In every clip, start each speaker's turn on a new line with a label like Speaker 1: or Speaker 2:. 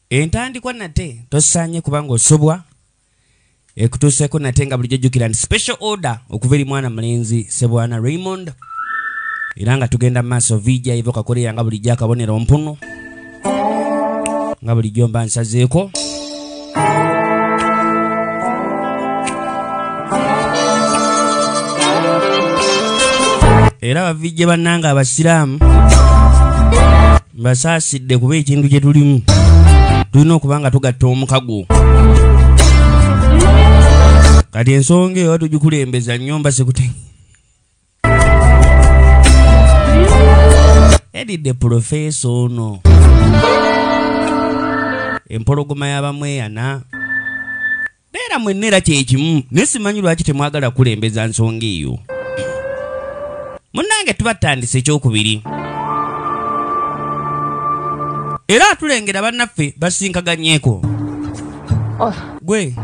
Speaker 1: entandikwa nate tosaanye kubanga osobwa ekutuuseeko nate nga bulijjo jjukira nti special order okuva eri mwana mulenzi sebwana raymond era nga tugenda mu maaso vija eva okakoleera nga bulijjo akabonero mpunu nga bulijjo mba nsazeeko era bavijje bannanga abasiraamu mbasaasidde kuba ekintu kye tulimu tulina okuba nga tugatta omukago kati ensonga eyo tugikulembeza nnyumba sikutenge yadidde pulofeesa ono empologoma y'abamu eyana beera mwenna era kyekimu naye simanyi lwaki temwagala kulembeza nsonga eyo munnange tuba tutandisa ekyokubiri era atulengera bannaffe basinkaganyeko oh. gwe oh.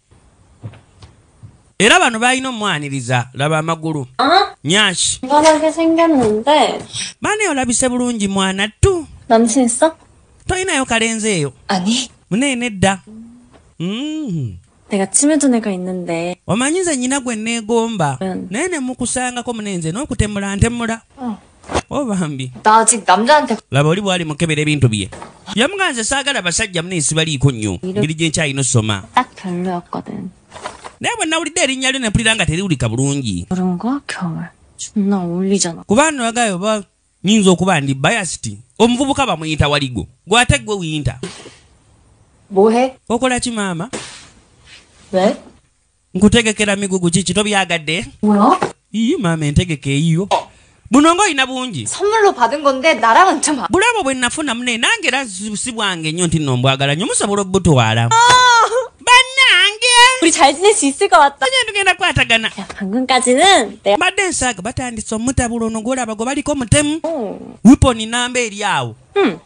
Speaker 1: era bano balina omwaniriza laba amagulu ah. nyash
Speaker 2: bane olabise
Speaker 1: bulungi mwana tu
Speaker 2: tolinayo kalenzi
Speaker 1: eyo muneene
Speaker 2: dda mm. omanyi nze nyina gwe
Speaker 1: neegomba naye nemukusangako munenze n'okutemula ntemula oh. Oh, bambi
Speaker 2: laba oli bwali mukebera
Speaker 1: ebintu bye yamuga nze saagala basajja muna ensi baliiko nnyo ngeri gyenkyalina osoma
Speaker 2: naye bwe
Speaker 1: nawulidde erinnya lyo nempulira nga teriwulika bulungi
Speaker 2: kuba noyagayo oba
Speaker 1: nyinza okuba ndi bayasiti omuvubuka bamuyita waligo gwate gwe wiyinta
Speaker 2: okola ki
Speaker 1: maama nkutegekera migugu kiki tobyagadde
Speaker 2: ii maama
Speaker 1: entegeka eyiyo buno nga olina bungi
Speaker 2: bulabo bwe nafuna mune
Speaker 1: nange era si bwange nnyo nti no mbwagala nyo musobola obutwala ah! banange
Speaker 2: tugenda kwatagana mbadde nsaaga batandise
Speaker 1: omutabula ono gwolaba gwe baliko mutemu hmm. wiponi namba eri awo hmm.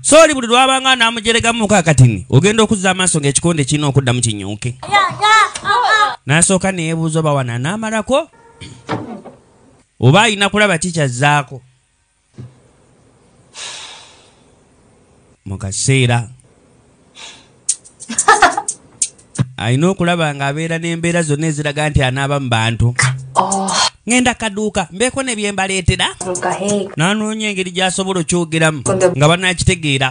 Speaker 2: sooli buli
Speaker 1: lwabanga namujeregamu muka katini ogenda okuzza amaaso ngaekikonde kirina okuddamu kinyuuke nasooka neyebuuza oba wana namalako oba alina kulaba kikyazzaako mu kaseera alina okulaba ng'abeera n'embeera zonna eziraga nti anaaba mu bantu oh. ŋenda kaduuka mbeeko ne bye mbaleetera nanoonya engeri gy'asobola okyogeramu nga banaakitegeera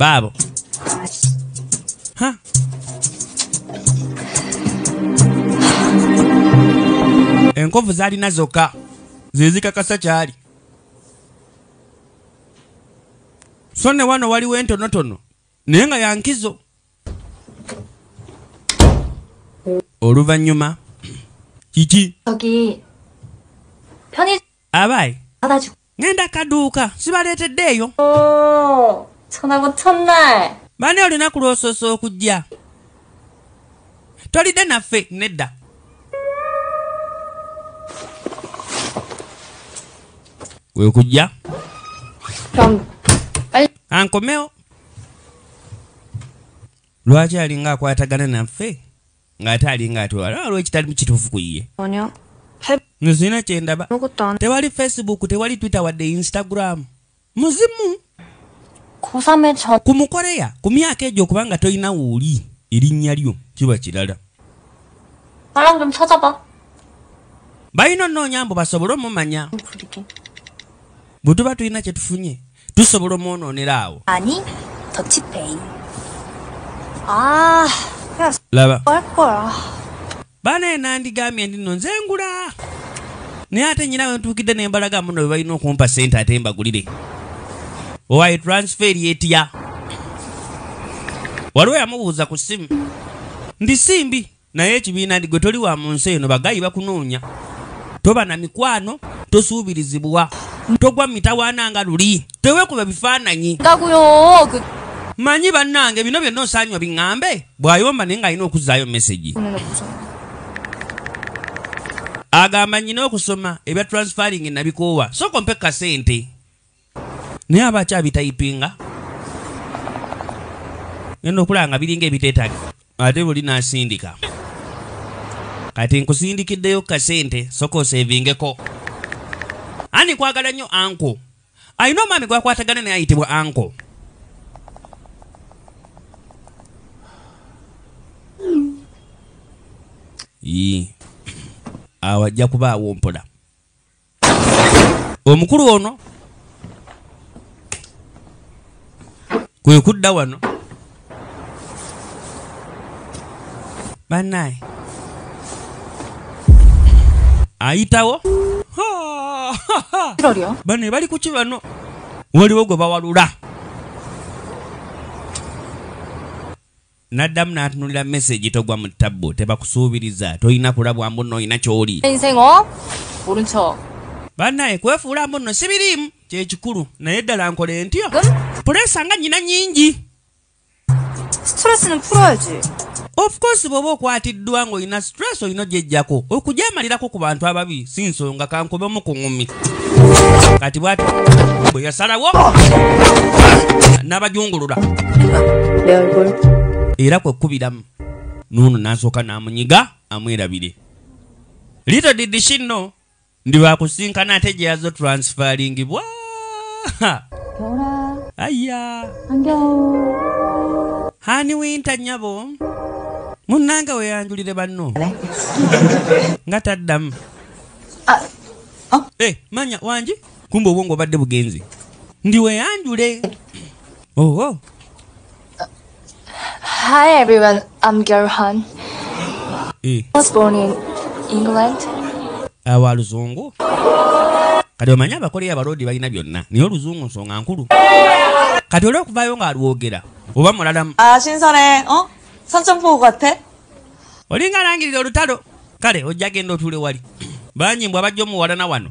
Speaker 1: baabo enkovu zalina zokka zezikakasa kyali so ne wano waliwo entonotono naye nga yankizo oluvannyuma kiki
Speaker 2: abayi
Speaker 1: ngenda
Speaker 2: kaduuka
Speaker 1: sibaleetedde eyo
Speaker 2: oh, bani olunaku
Speaker 1: lwosoosa okujja tolidde naffe nedda wekujja
Speaker 2: ankomewo
Speaker 1: lwaki alinga akwatagana naffe ng'ate alinga atwala lwekitalimu kituufu ku ye
Speaker 2: nzina
Speaker 1: kyendaba tewali
Speaker 2: facebook tewali
Speaker 1: twitter wadde instagram muzimu ku mukoreya ku myaka egyo okuba nga tolina wooli
Speaker 2: erinnya
Speaker 1: lyo kiba kirala balina onoonya mbu basobole omumanya bwe tuba tulina kye tufunye tusobola omwonoonera awo ah,
Speaker 2: laba banaye
Speaker 1: nandigambye ndi no nze ngula naye ate nyina wentuukidde nembalaga muno bebalina okumpa sente ate mbagulire owaye transfer yetya waliwo yamubuuza ku simu ndi simbi naye ekibiina ndigwe toli wa mu nsi eno bagayi bakunoonya toba na mikwano tosuubirizibwa togwa mitawaana nga luli tewekuba bifaananyi
Speaker 2: manyi
Speaker 1: bannange bino byonna osaanywa biŋŋambe bw'ayomba naye ng'alina okuzzaayo mesegi agamba nyina okusoma ebya transferring nabikoowa soko mpe kasente naye aba akyabitayipinga genda okulaba nga biringa ebiteetagi ate buli nasindika kati nkusindikiddeyo kasente soko osevingeko ani kwagala nnyo anko alina omwami gwakwatagana naye ayitibwa anko awo ajja kuba awompola omukulu ono kwe kudda wano banaye ayitawo bano ebali kuki bano waliwo gwe bawalula naddamu n'atunulira mesegi togwa mu ttabbu tebakusuubiriza tolina kulabwa mbunno olina ky'oli
Speaker 2: bannaye
Speaker 1: kwefuula mbunno sibiriimu kyekikulu naye ddala nkole ntyo puleesa nga nnyina nnyingi
Speaker 2: ofcourse
Speaker 1: bw'oba okwatiddwa ng'olina stress olina ojejjako okujamalirako ku bantu ababi si nsonga kankobe omu ku ŋumi kati bwati bwe yasalawo n'abajungulula
Speaker 2: era kwe
Speaker 1: kukubiramu nuuno n'asooka n'amunyiga amwerabire little did she know ndi bakusinkana ate gyeyazo transferingibwa
Speaker 2: aya hani winta nyabo
Speaker 1: munanga weyanjulire banno nga taddamu ah, oh. eh, manya wangi kumba obwongo obadde bugenzi ndi weyanjule owo oh, oh.
Speaker 2: Hi everyone, I'm Gary Han. Eh. I was born in England. Awa
Speaker 1: luzungu. Kati omanyi abakoleya abalodi balina byonna naye oluzungu nsonga nkulu. Kati olwo okuvayo nga alwogera oba mulalamu. Ah, shinsone,
Speaker 3: oh, sanchumpu kwate. Olinga
Speaker 1: langirira olutalo. Kale ojja genda otule wali. Banyi mbwa bajjo muwalana wano.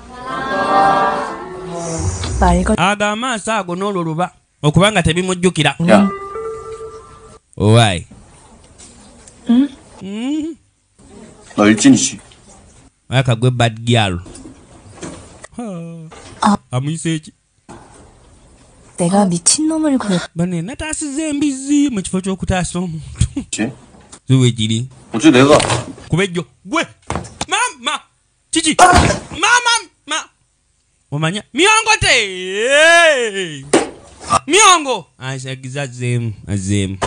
Speaker 1: ago amaaso ago n'olwo luba okuba nga tebimujjukira owaayi
Speaker 4: hmm? hmm? olikinishi aka
Speaker 1: gwe bad gyal ah. amuyisa eki
Speaker 3: bane nataasiza
Speaker 1: embizzi mu kifo ky'okutaasa omuntu
Speaker 4: ziwegiri kuba ejjo gwe
Speaker 1: mama kiki mama ma omanya miongo te Hey! miongo azagizazemu azemu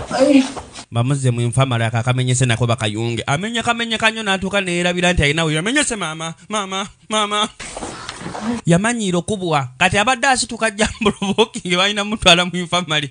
Speaker 1: bamuzemu enfamala kakamenyese nako bakayunge amenye kamenye kanyo natuuka neyerabira nti alina oyo amenyese mama mama mama yamanyiira okubwa kati abadde asituka jambulobokinge balina mutwala mu infamali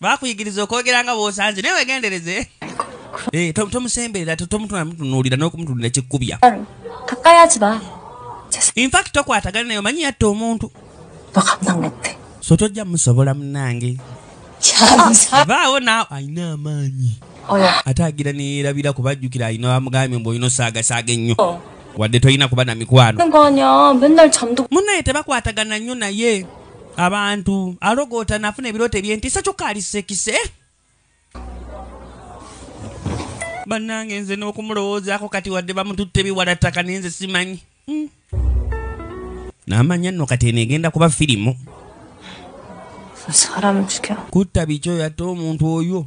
Speaker 1: bakuyigiriza okwogera nga bwosanze naye wegendereze eh, tomusemberera tomutunamutunuulira n'okumutunulira kikkubya
Speaker 2: infact
Speaker 1: tokwatagana naye omanyi yatta omuntu
Speaker 2: so
Speaker 1: tojja musobola
Speaker 2: munange
Speaker 1: vaawo naawe alina amaanyi ate agira neyerabira kubajjukira alina bamugambye mbu olina osaagasaaga ennyo oh. wadde tolina kuba na mikwano munnaye tebakwatagana nnyo naye abantu alogoota nafuna ebirooto ebyentiisa kyokka ali sekise bannange nze n'okumulowoozaako kati wadde bamututte biwala ttaka naye nze simanyi hmm. namanya nno kati eno egenda kuba firimu kutta bikyo yatta omuntu oyo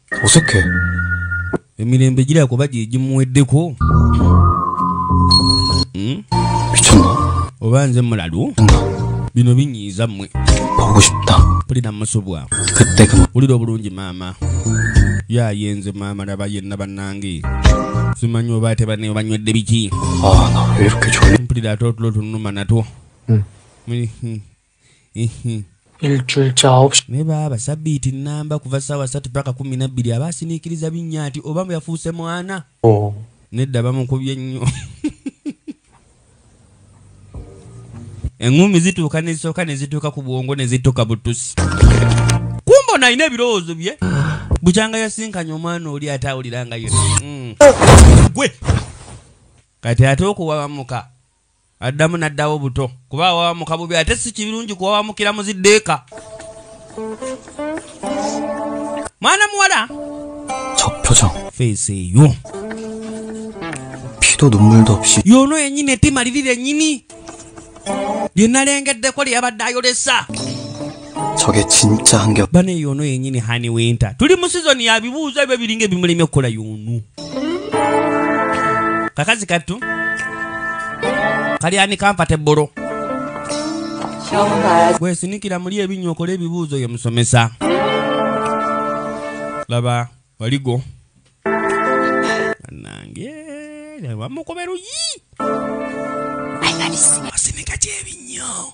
Speaker 1: 어색해. emirembe giraba kuba gye gimuweddeko
Speaker 4: Hmm? oba nze
Speaker 1: mulalu bino binyiiza mmwe
Speaker 4: mpulira musubwa
Speaker 1: wulira
Speaker 4: obulungi maama
Speaker 1: yaye nze maama laba yenna bannange simanyi oba ate banne banywedde biki
Speaker 4: mpulira ate otulo tunuma
Speaker 1: natwo
Speaker 5: naye baaba sabbiiti
Speaker 1: nnamba kuva ssaawa satu paka kumi nabbiri aba asiniikiriza binnya nti oba mu yafuuse mwana oh. nedda bamukubye nnyo eŋŋumi zituuka nezisooka ne zituuka ku bwongo ne zituuka butusi kumba ono alina ebirowoozo bye bukyanga yasinkanya omwana oli ate awulira nga ye mm. gwe kati ate okuwabamuka addamu n'addawo buto kuba awawamuka bubi ate si kibirungi kuwawamukira muziddeeka mwana muwala
Speaker 4: feesi eyo yono yenyini etimalirira
Speaker 1: enyini lye nalengeddeko lye yabadde ayolesa 저게
Speaker 4: 진짜 한결 bana eyo ono yenyini
Speaker 1: hani winter tuli mu sizoni ya bibuuzo ebyo biringa ebimulemye okukola yoonu kakazi kattu kali ani kampate bolo gwesinikira muli ebinywa okole ebibuuzo ye musomesa laba waligo nange wamukobe luyi asinika kyebinnyo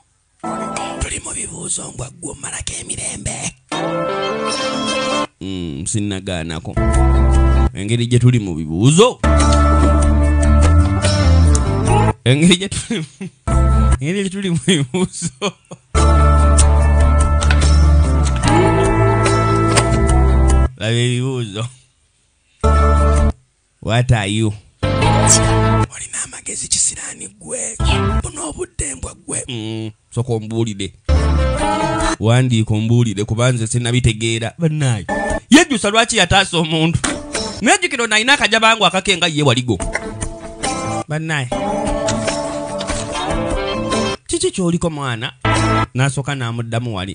Speaker 1: tuli mu bibuuzo mbwa ggwe omalako emirembe mm, sinnagaanako engeri gye tuli mu bibuuzo engeri gye tuli engeri gye tuli mu bibuuzo laba ebibuuzo what are you olina amagezi kisirani gwe buno obudde mbwa gwe mm, soka ombuulire wandiika ombuulire kuba nze sinabitegeera banaye yejjusa lwaki yataasa omuntu nejjukira ono alina akaja bangu akake nga ye waligo banaye kiki kyoliko mwana nasooka namuddamu wali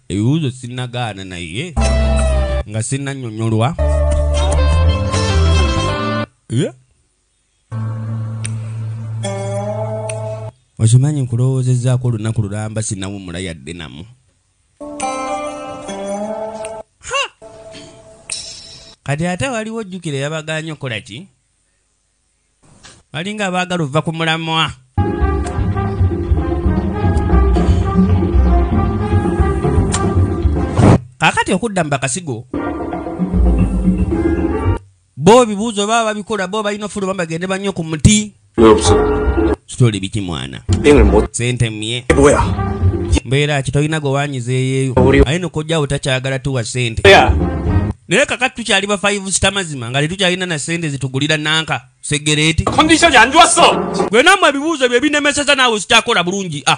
Speaker 1: ebibuuzo sinnagaana naye nga sinnannyonyolwa Yeah. okimanyi nkulowoozezaako olunaku lulamba sinawumula yadde namu Ha! kati ate waliwo ojjukira yabagaanye okukola ki balinga abaagala ova ku mulamwa kakati okudda mu bakasigo bo ebibuuzo baba babikola bo balina ofuluma bagende bannyo ku muti story biki mwana sente mye mbeera ki tolina gwe wanyiza eyeeyo aye nokojjawo takyagala tuwa sente naye kakati tukyali ba five star mazima nga tetukyalina na sente zitugulira nanka segereeti
Speaker 5: gwenamwe ebibuuzo
Speaker 1: byebinemeseza naawe zikyakola bulungi ah.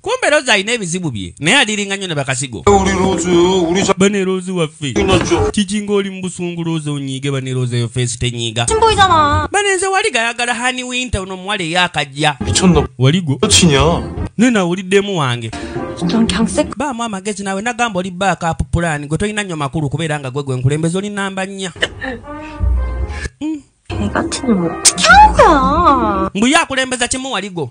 Speaker 1: kumbe rozi alina ebizibu bye naye adiringa nnyo ne bakasigo bane rozi waffe kikinga oli mubusungu rozi onyiige bane rozi eyo feesi tenyiiga bane
Speaker 2: nze wali gayagala
Speaker 1: hani winta ono omuwala eyakajja waligo naye
Speaker 5: nawe oliddemu
Speaker 1: wange
Speaker 2: baamu amagezi nawe
Speaker 1: nagamba oli baakapu pulaani gwe tolina nnyo makulu kubeera nga gwe gwe nkulembeza oli namba nnya
Speaker 2: mbuye akulembeza
Speaker 1: kimu waligo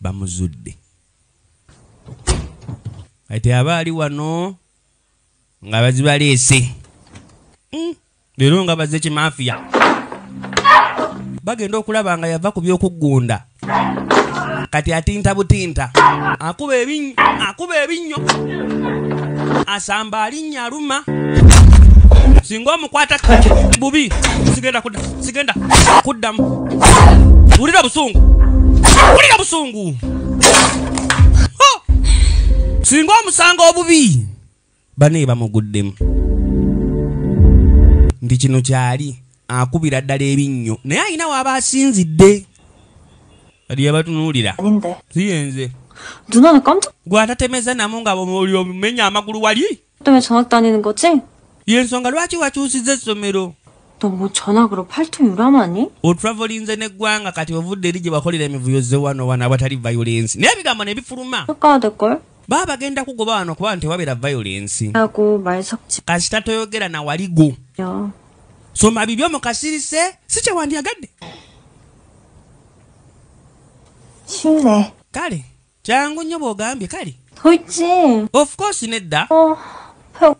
Speaker 1: bamuzudde kati aba ali wano nga bazibaleese hmm, leero nga bazze kimafiya bagenda okulaba nga yava ku byokuggunda kati atinta butinta akuba ebinnyo asamba ali erinnya aluma singa omukwata bubi sigenda kudda sigenda kuddamu wulira busungu wulira busungu singa omusango obubi bane bamuguddemu ndi kino kyali akubira ddala ebinnyo naye alina waaba asinzidde kati yabatunuulira siyenze
Speaker 2: gwatatemeza namu
Speaker 1: nga omenya amagulu wali
Speaker 2: yensonga lwaki
Speaker 1: wakyusiza essomero
Speaker 2: otravelinze
Speaker 1: neggwanga kati ovudde eri gye bakolera emivuyo zewano wano awatali violensi naye ebigambo nebifuluma
Speaker 2: baba bagenda kugoba
Speaker 1: wano kuba nti wabeera violensi
Speaker 2: kasita toyogera
Speaker 1: nawaligo
Speaker 2: soma bibyo
Speaker 1: mu kasirise si kye wandyagadde
Speaker 2: kine kale
Speaker 1: kyangu nnyo bw'ogambye kale tuki
Speaker 2: of course
Speaker 1: nedda oh,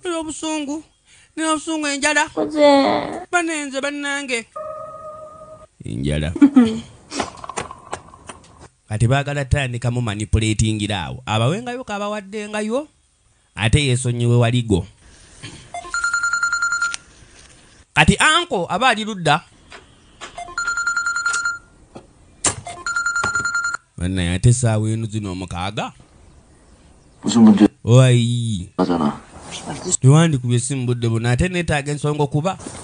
Speaker 1: nina
Speaker 2: obusungu
Speaker 1: nina obusungu enjala banenze bannange enjala kati baagala tandikamu manipulatingira awo abawengayo kabawaddengayo ate yesonyiwe waligo kati anko aba ali ludda banaye ate esaawa enu zino omukaaga
Speaker 4: oyi tewandikubye
Speaker 1: simu budde buno ate netaaga ensonga okuba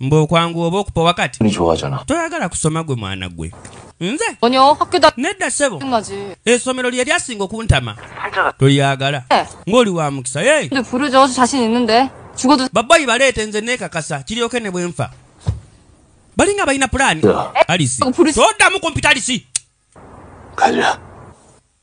Speaker 4: mbu okwanguwa
Speaker 1: oba okupowa kati toyagala
Speaker 4: kusoma gwe
Speaker 1: mwana gwe nze
Speaker 6: nedda sebo
Speaker 1: esomero
Speaker 6: lye lyasinga
Speaker 1: okuntama tolyagala eh. ng'oli wa mukisa
Speaker 6: babayi baleete nze
Speaker 1: neekakasa kiryoke ne bwenfa balinga balina pulaani alisi
Speaker 4: toddamu
Speaker 1: kumpita
Speaker 6: alisi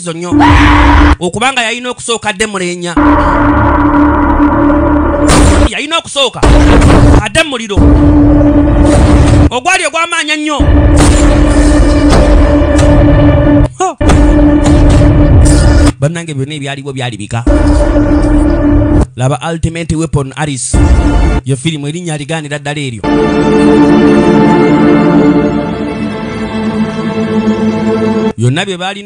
Speaker 1: zo nnyo okubanga yalina okusooka adde mulenya yalina okusooka adde muliro ogwali ogwamaanya nnyo bannange byonna ebyaliwo byali bika laba ultimate weapon aris ye firimu erinnya aligaanira ddala eryo byonna bye baalina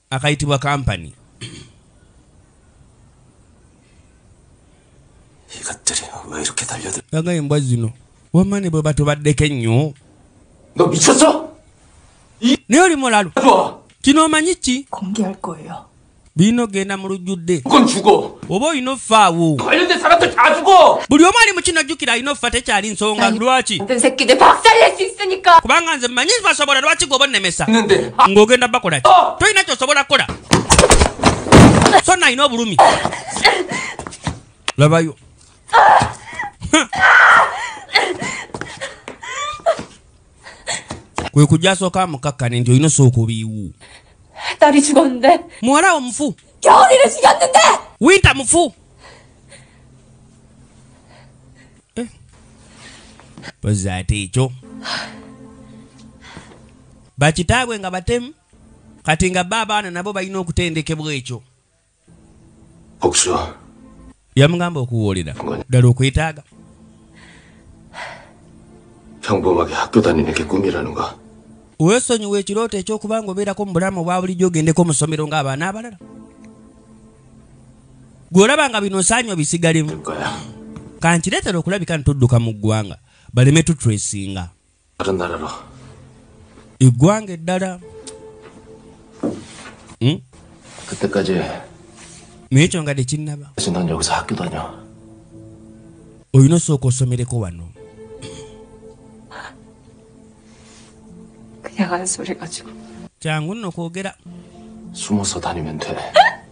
Speaker 1: akayitibwa kampani
Speaker 4: aga embwa zino
Speaker 1: wamane bwe batubaddeko ennyo naye oli mulalu kino omanyi
Speaker 4: ki
Speaker 6: birina ogenda
Speaker 1: mu lujjudde oba
Speaker 4: olina offa
Speaker 1: awo
Speaker 4: buli omu ali mukino jjukira
Speaker 1: alina offa tekyali nsonga lwaki
Speaker 6: kubanga nze mmanyi
Speaker 1: basobola lwaki gwe obanemesa ng'ogenda
Speaker 4: bakolaki oh.
Speaker 1: tolina kyosobola kukola so nalina obulumi labayo kwe kujja asooka amukakkane nti olina osooka obiiwu
Speaker 6: muwala wo mufu winta mufu
Speaker 1: eh. pozi ate ekyo bakitaabwe nga batemu kati nga ba abaana nabo balina okutendekebwa ekyo yamugamba okuwoolera ddala okwetaaga
Speaker 4: weesonyiwa
Speaker 1: ekirooto ekyokuba nga obeerako mu bulamu obwa bulijjo ogendeko mu ssomero ng'abaana abalala gwe olaba nga bino osaanya obisigalemu
Speaker 4: kankireetera
Speaker 1: okulabika nti tudduka mu ggwanga baleme tutresinga eggwanga eddala
Speaker 4: hmm? naye
Speaker 1: ekyo nga tekinnaba olina osooka osomereko wano
Speaker 6: kyangu nno
Speaker 1: kwogera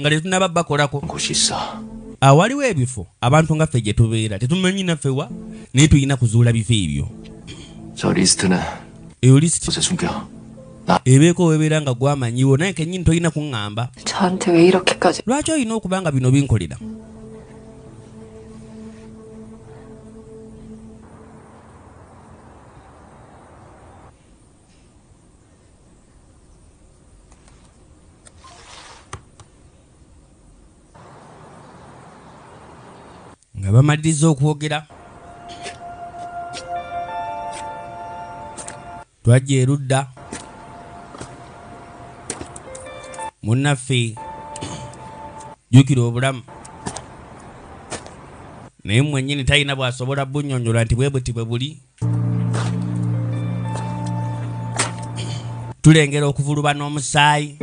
Speaker 1: nga tetunaba bakolako
Speaker 4: awaliwo ebifo
Speaker 1: abantu nga ffe gye tubeera tetumanyi naffe wa naye tulina kuzuula bifo ebyo
Speaker 4: eyo lisiti ebeeko
Speaker 1: webeera nga gwamanyiwo naye kenyini tolina kuŋŋamba
Speaker 6: lwaki olina okuba nga bino
Speaker 1: binkolera nga bamaliriza okwogera twajja erudda munnaffe jjukira obulamu naye mwennyini talina bw'asobola bunyonyola nti bwe buti bwe buli tulengera okuvuluba n'omusaayi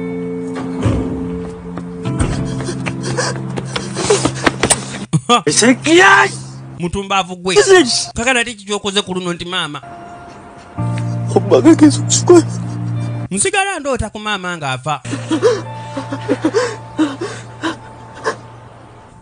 Speaker 7: mutumbaavu
Speaker 1: gwe kakana ti kikyokoze ku luno nti maama
Speaker 7: nsigala
Speaker 1: ndoota ku maama ng'afa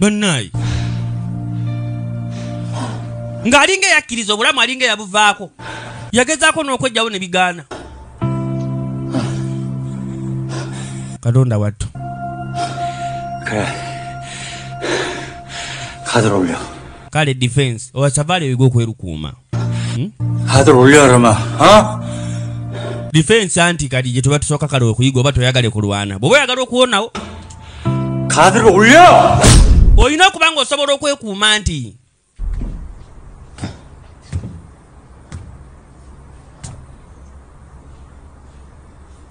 Speaker 1: banaye ng'alinga eyakkiriza obulamu alinga eyabuvaako yagezaako n'okwejjawo ne bigaana katonda wattu
Speaker 7: kale kati romeo kale defense
Speaker 1: owa savale wigo kwerukuuma
Speaker 7: hmm? hadro ulyarama ha
Speaker 1: defense anti kadi je tuba tusoka kale okuyiga oba toyagale kulwana bobo yagala okuwonawo
Speaker 7: kadro ulya oyina
Speaker 1: kubanga osobola okwekuuma nti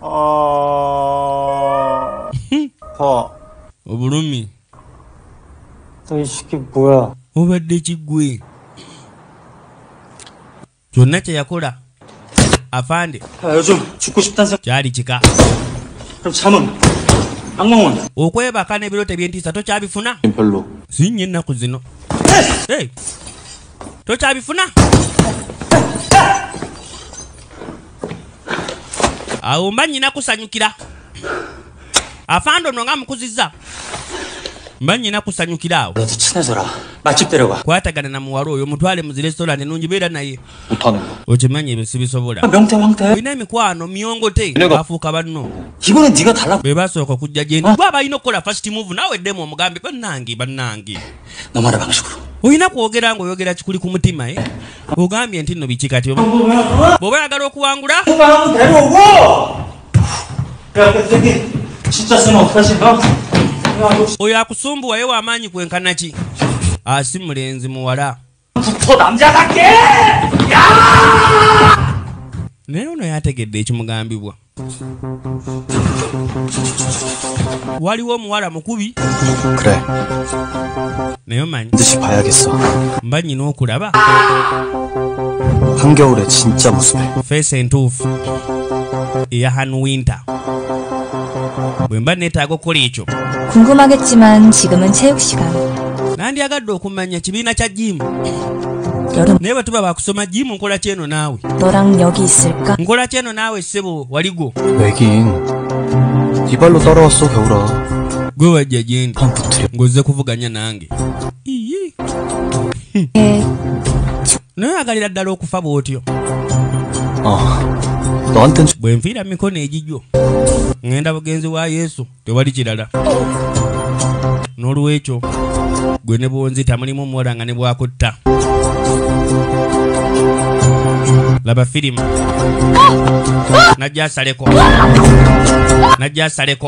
Speaker 1: Oh. Hmm. Oh. Oburumi.
Speaker 7: obadde kigwe
Speaker 1: kyonna kyeyakola afande
Speaker 7: kyali kika okwebaka nebiro
Speaker 1: tebyentiisa tokyabifuna sinye
Speaker 4: ennaku zino
Speaker 1: tokyabifuna awo mba nyina kusanyukira afando no nga mukuziza mba nyina kusanyukira awo
Speaker 7: kwatagana na muwala oyo
Speaker 1: mutwale mu zirestorani nungi beera naye okimanyi
Speaker 5: ebyo sibisobola
Speaker 1: olina
Speaker 7: emikwano
Speaker 1: myongote afuuka banno
Speaker 7: be basooka okujja gyendi
Speaker 1: gwe abalina okukola fast move nawe ddemu omugambe bannange bannange namwana bange
Speaker 7: sukulu olina kwogera nga
Speaker 1: oyogera kikuli ku mutima e ogambye nti nno biki kati bwoba oyagala okuwangula oyo akusumbuwayo wamaanyi kwenkanaki asi ah, mulenzi muwala naye ono yategedde ekimugambibwa waliwo omuwala mukubi naye omanyi
Speaker 5: mba nyina
Speaker 1: okulaba
Speaker 5: feesi entuufu
Speaker 1: eya han winter bwe mba neetaaga okukola ekyo nandyagadde manya kibiina kya jimu
Speaker 3: naye bwe tuba bakusoma
Speaker 1: jimu nkola kyeno naawe
Speaker 3: nkola kyeno naawe
Speaker 1: ssebo
Speaker 5: waligwo gwe wajja gyendi
Speaker 1: ng'ozze
Speaker 5: kuvuganya nange
Speaker 3: eh.
Speaker 1: naye agalira ddala okufa bw'otyo
Speaker 5: ah. bwe nfiira mikono
Speaker 1: egigyo ŋŋenda bugenzi wa yesu tewali kirala n'olwekyo gwe ne bwonzita mulimu omuwala nga ne bwakutta laba firimu najja asaleko najja asaleko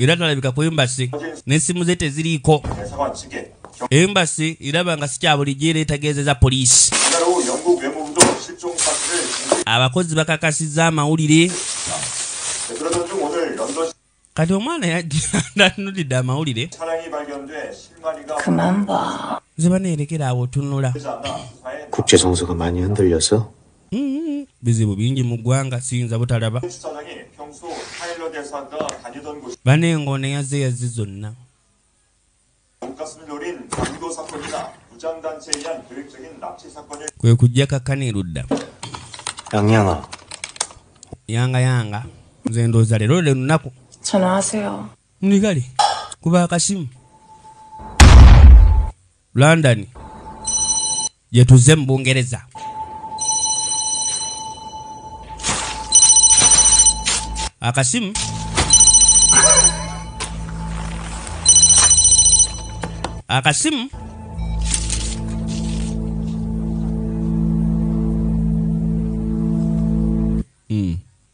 Speaker 1: era nalabika ku embasi n'essimu ze teziriiko
Speaker 8: embasi
Speaker 1: iraba nga sikyabulijjo era etegeezeza poliisi
Speaker 8: abakozi bakakasizza
Speaker 1: amawulire
Speaker 8: kati omwana
Speaker 1: yajanulidde amawulire
Speaker 6: nze baneerekera
Speaker 1: awo tunula bizibu bingi mu ggwanga siyinza butalaba
Speaker 8: bana engoona yazze
Speaker 1: yazze zonna
Speaker 8: kwe kujja kakkana
Speaker 1: erudda yanga yanga nze ndooza leero le lunaku
Speaker 6: nigale
Speaker 1: kuba akasimu london gyetuze mu bungereza akasimu akasimu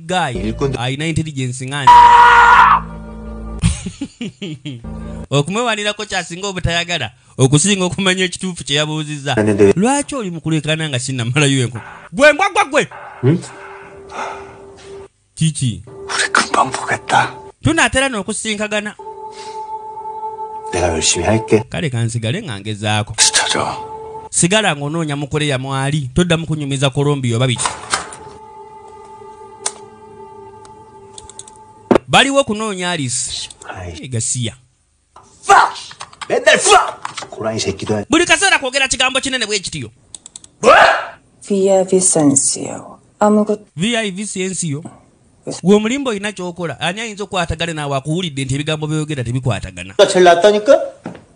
Speaker 9: guy
Speaker 1: alina intelligence
Speaker 9: nga
Speaker 1: nze okumwewanirako kyasinga obutayagala okusinga okumanya ekituufu kye yabuuzizza lwaki oli
Speaker 9: mukulekana
Speaker 1: nga sinamalayo enko gwe mbwagwa gwe hmm? kiki
Speaker 9: tunaatera
Speaker 1: n'okusinkagana
Speaker 9: kale kansigale nga
Speaker 1: ngezaako
Speaker 9: sigala
Speaker 1: ng'onoonya mukoleya mwali toddamu kunyumiza kolombiya oba biki baliwo kunoonya alisi gasiya
Speaker 9: buli kaseera kwogera kigambo
Speaker 1: kinene bwekitiyo
Speaker 6: vivisensio
Speaker 1: gwe omulimba olina kyokola ani ayinza okukwatagana naawe akuwulidde nti ebigambo byoyogera tebikwatagana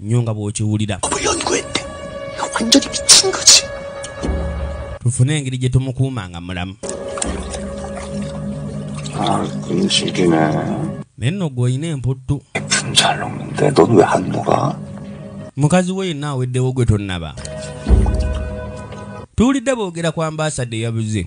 Speaker 1: nnyo nga bw'okiwulira tufune engeri gye tumukuuma nga mulamu
Speaker 10: ah, naye
Speaker 1: nno gwe olina emputtu
Speaker 10: mukazi we
Speaker 1: yenna aweddewo gwe tonnaba tuwulidde boogera ku ambaasada eyabuze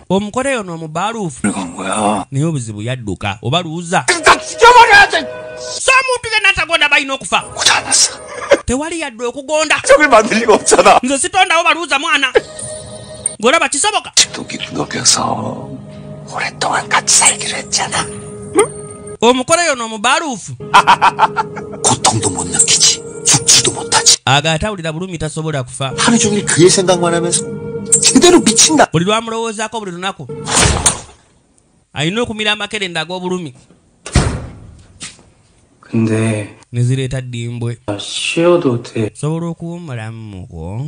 Speaker 1: omukole ono omubaaluufu
Speaker 10: naye obuzibu yadduka
Speaker 1: oba luuza
Speaker 10: so omuntu
Speaker 1: yenna atagonda balina okufa
Speaker 10: tewali yadde
Speaker 1: okugonda
Speaker 10: nze sitondawo baluuza
Speaker 1: mwana ng'olaba kisoboka omukole yono omubaluufu
Speaker 9: aga atawulira bulumi
Speaker 1: tasobola kufa
Speaker 9: buli lwamulowoozako buli
Speaker 1: lunaku alina okumira amakerenda ag'obulumi
Speaker 5: nezireeta
Speaker 1: ddimbwe
Speaker 5: sobola okuwumulamu
Speaker 1: mukwo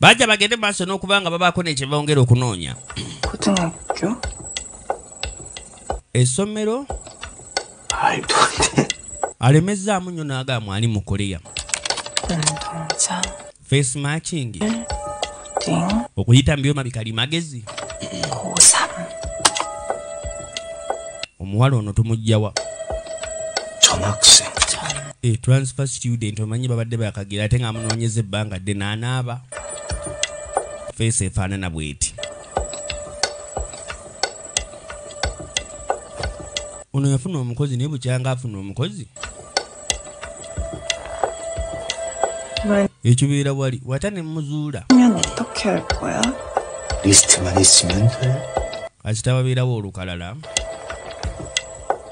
Speaker 6: Bajja bagende
Speaker 1: mu maaso n'okuba nga babaako ne kye bongera okunoonya. Essomero
Speaker 9: alemezzaamu
Speaker 1: nnyo n'agaa mwali mu Korea.
Speaker 6: Face
Speaker 1: matching.
Speaker 6: Okuyita mu byuma
Speaker 1: bikali magezi. Omuwala ono tumujjawa.
Speaker 9: Chomakse. Eh,
Speaker 1: transfer student omanyi babadde bakagira ate nga amunoonyeza ebbanga dde naanaaba feesi efaanana bweti ono yafuna omukozi naye bukyanga afuna omukozi ekibeera wali wata ne muzuula
Speaker 9: akitababeerawo
Speaker 1: olukalala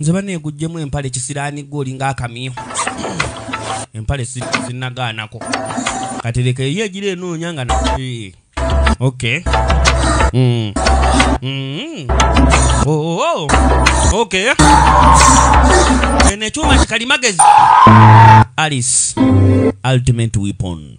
Speaker 6: Nze bane gujjemu
Speaker 1: empale kisirani gwe olinga akamyu. Empale sinagaanako. Katereka eyo egira enoonya nga na. Eh. Okay. Mm. Mm. Oh, oh, oh. Okay. Eno ekyuma kikalimagezi. Alice. Ultimate weapon.